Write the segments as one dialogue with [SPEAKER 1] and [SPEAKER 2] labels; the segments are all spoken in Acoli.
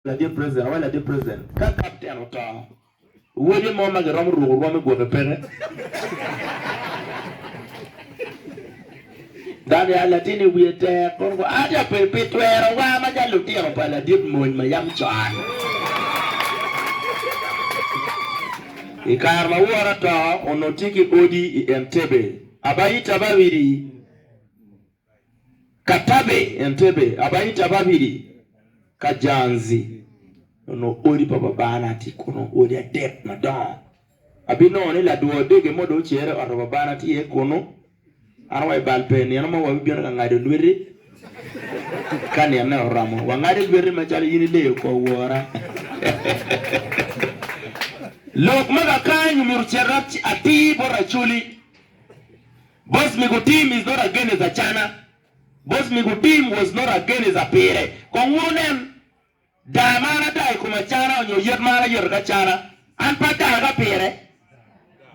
[SPEAKER 1] Ladit president awaco ladit president ka kapten oto wode mo ma giromo ruko rwome gwoke peke dano ya latine wiye tek kono ko ati ya pe pi twero wa ma ja lutino pa ladit mony ma yam con i kare ma wora to onongo tye ki odi i Entebbe aba ita ba widi Katabe, Entebbe, Abaita, Ababidi, Kajanzi onongo odi pa babana tye kunu, odi adek madongo. Abinongo ni ladwo odege mo dong ocere i ot pa babana tye iye kunu. An wa i bal pe, nino mo wabibino ka ngado lweti ka nine oromo. Wangade lweti macalo in ileyo kor wora. Lok ma kakaanyo myero ocit atir bot Racoli. Boss mego team is not against Acana, boss mego team was not against Apire. Kong wuru nen daa ma an adaa ikom Acana onyo yet ma an ayeto ki Acana, an pe adaa ki Apire.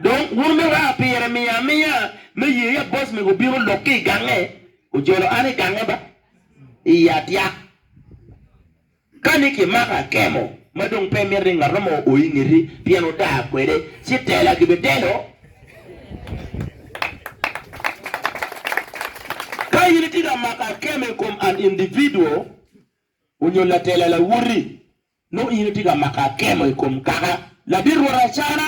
[SPEAKER 1] Dong wun me weko Apire miya amiya me ye ya boss mego bino lok ki igange ojolo an igange ba, iya tyak. Kani kimako akemo ma dong pe imito ni ngat mo o i ngeti pien odaa kwede, ci tela gibitelo. Ka in itye ka mako akemo i kom an individual onyo latela lawoti, nongo in itye ka mako akemo i kom kaka ladit rwot acana.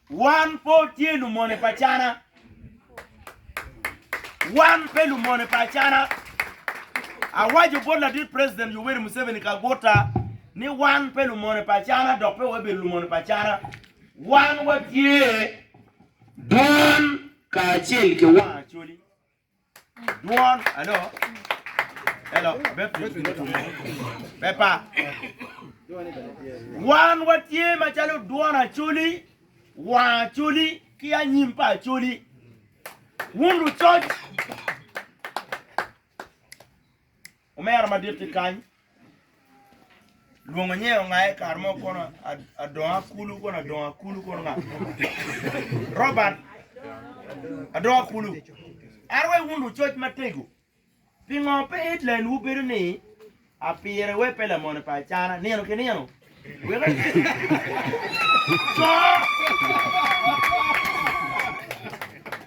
[SPEAKER 1] Wan pe watye lumone pa Acana. Wan pe lumone pa Acana. Awaco bot ladit President Yoweri Museveni Kaguta ni wan pe lumone pa Acana dok pe wabedo lumone pa Acana. Wan watye dwan kacel ki wang Acholi. Dwon, alo? Elo, Baptist ki dwon mo. Pepa. Wan watye macalo dwon acoli, wang acoli, ki anyim pa acoli. Wun lucoc. Omera maditti kany lwongo nyer ongaye kare mo kono adongo akulu kono adongo akulu kono nga Robert adongo akulu ento wek wun lucoc matego pingo pe Hitland wubedo ni apire wek pe lamone pa acana nino ki nino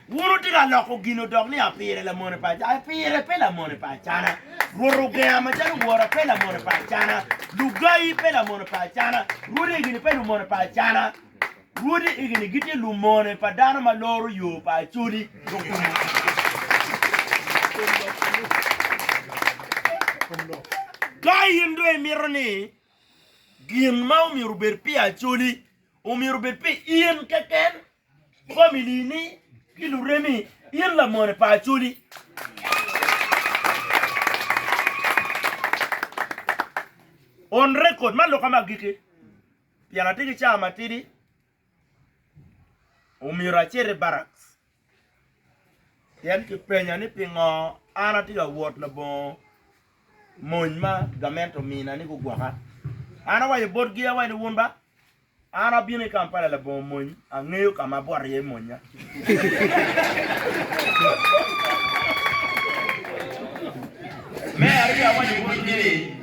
[SPEAKER 1] Wun wutye ka loko gin odok ni apire lamone pa acana. Apire pe lamone pa acana. Rwot ogenga macalo wora pe lamone pa acana. Lugayi pe lamone pa acana. Rwodi egini pe lumone pa acana. Rwodi egini gitye lumone pa dano ma loro yo pa Acholi dok kumo Ka in dong imito ni Gin ma omyero obed pi Acholi omyero obed pi in keken, familini, ki luremi. In lamone pa Acholi. On record, man lok ma agikki pien atye ki cawa matidi. Omyero acit i barracks pien kipenya ni pingo an atye ka wot labongo mony ma gamente omina ni gugwoka. An awaco botgi awaco ni wun ba an abino i Kampala labongo mony angeyo ka ma abwot iye monya. Me aryo awaco botgi ni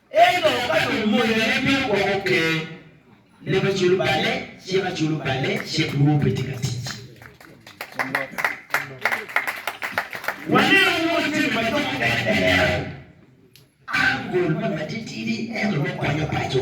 [SPEAKER 1] Ento ka dong moyone bino gwoko ker, lebe culo balle, cika culo balle, cik nwo pe tye ka tic. Wanenu moc jami ma jo mukene pe hero. An gol me matitidi ento nongo konyo paco.